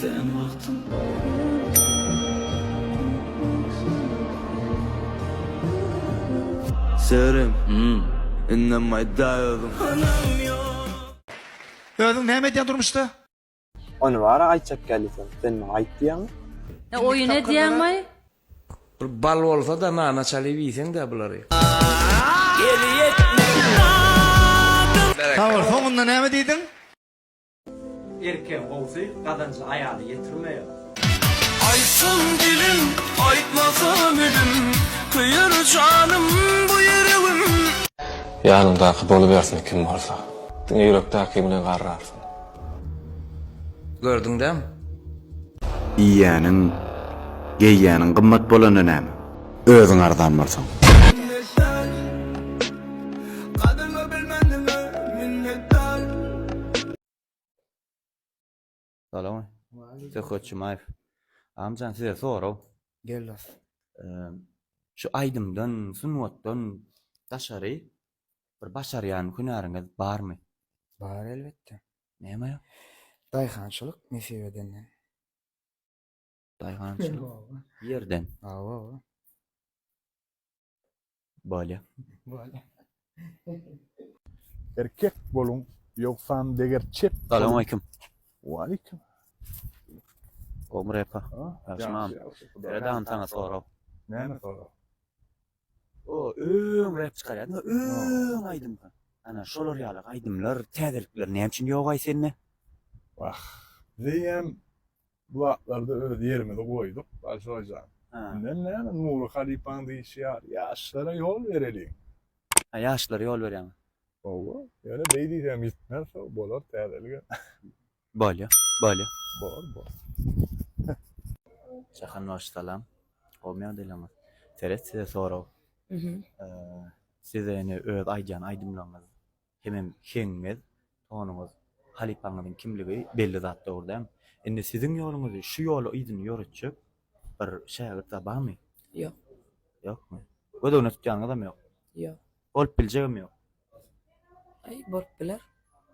Sen wagtyň Serim indem aýda özüň. Özüň näme edýäň durmuşda? Ony bara aýtjak geldiseň sen maňa aýt diýýäňmi? He oýun edýäňmi? Bir bal bolsada nana çalyp iýseňdä bulary. Sag bol, soňunda näme diýdiň? Erkegiň gowsy gazanjy aýala ýetirmeýär. Aýtsam dilim, aýtmasam elim, Köýer janym bu ýüregim. Ýanyňdaky bolubersin kim bolsa, Diňe ýürekdäki bilen garrarsyň. Gördüň dämi? Iýýäniň, geýýäniň gymmat bolanda näme? Özüň arzan bolsaň. Minnetdar Gadryňy bilmändiňe minnetdar. Salam. Söhbet Jumaýew. Agmjan size sorag. Gel dost. Şu aýdymdan, sungatdan daşary bir başarýan hünäriňiz barmy? Bar elbetde. Näme? Daýhançylyk nesip edenden. Daýhançylyk ýerden. Hawa. Bolýa. Bolýa. Erkek boluň, ýogsam deger çep. Salam aleýkum. Waleýkim. Gowmy repa? Ýagşymam. Ýa-da antana sorag. Näme sorag? O öň rap çykarýardy, öň aýdym. Ana şolar ýaly aýdymlar, täzelikler näme üçin ýogaý sende? Wah, diýen bu zatlarda öz ýerimizi goýduk, Balşoý jan. Menden näme Nury halypaň diýşi ýaly, ýaşlara ýol bereliň. Ha, ýaşlara ýol berýäňiz. Hawa, ýöne beý diýsem ýitmez, bolar täzelige. Bolýa, bolýa. Bor, bor. Jahan bagşy salam. Gowymy ýagdaýlaryňyz? Seret size sorag. Size ine öz aýdýan aýdymlaryňyz hemem heňňiňiz, tonuňyz, halypaňyzyň kimligi belli zat dogry däl. Indi siziň ýoluňyzy şu ýoly yzyny ýöretjek bir şägirt zat barmy? Ýok. Ýokmy? Gözegine tutýanyňyzam ýok. Ýok. Bolup biljegem ýok. Aý, bolup biler.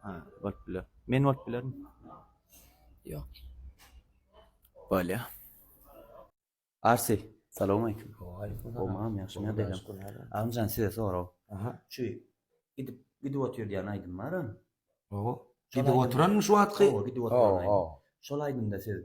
Ha, bolup biler. Men bolup bilermi? Ýok. Bolýa. Arsy, salowmaleýkim. Gowmam, ýagşym ýa beýlem. Agmyjan size sorag. Aha. Şu gidip gidip otyr diýen aýdym baram. Owo. Gidip oturanmy şu wagtky? Owo, gidip oturan aýdym. Owo. Şol aýdymda siz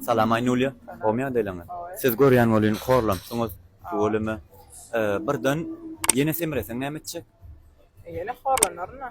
Salam Aýnulýa, gowymy ýagdaýlaryňyz? Siz görýän welin horlanpsyňyz, tüweleme birden ýene semreseň näme etjek? Ýene horlanaryn-a.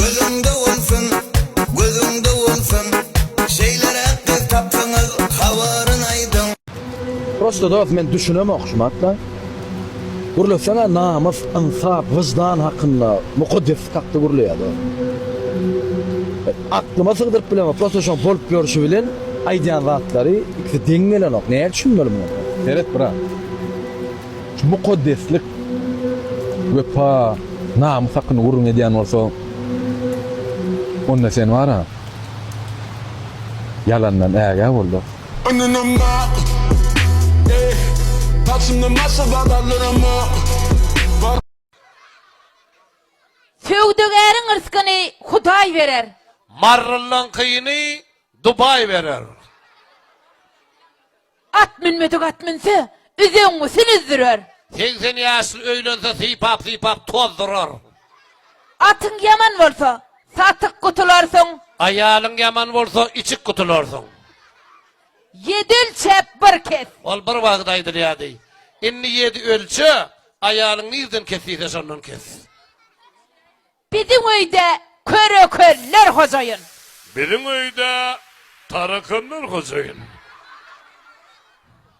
Gözüňde bolsun, gözüňde bolsun. Şeýleräk gyz tapsaňyz habaryn aýdyň. Prosto dos men düşünemok şu matla. Gürleseňä namys, ynsap, wyždan hakynda mukaddes hakda gürleýä dos. Aklyma sygdyryp bilemok prosto şoň bolup ýörşi bilen aýdýan zatlary ikisi deň gelenok nädip düşünmeli muňa. Seret brat. Şu mukaddeslik, wepa, namys hakynda gürrüň edýän bolsa, onda sen bar-a, ýalandan ägä bol-da. Söwdagäriň yrskyny Hudaý berer. Marrylyňkyny Dubaý berer. At münmedik at münse, üzeňňüsin üzdürer. Segsen ýaşly öýlense, sypap-sypap tozdurar. Atyň ýaman bolsa, satyk gutularsyň. Aýalyň ýaman bolsa, içik gutularsyň. Ýedi ölçäp, bir kes. Ol bir wagt aýdylýardy. Indi ýedi ölçe, aýalyň nirden kes diýse, şondan kes. Biziň öýde köre-köller hojaýyn. Biziň öýde tarakanlar hojaýyn.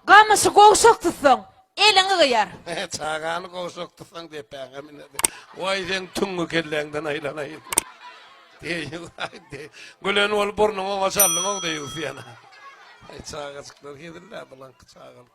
Gamyşy gowşak tutsaň, eliňi gyýar. Çagany gowşak tutsaň, depäňe miner. Waý, seň tüňňi kelläňden aýlanaýyn. Deýýus-aý, deý. Gülen bolup burnuňy oňa çaldyň-ow, deýýus ýene. Aý, çagajyklar hezil-dä, bulaňky çagalyk.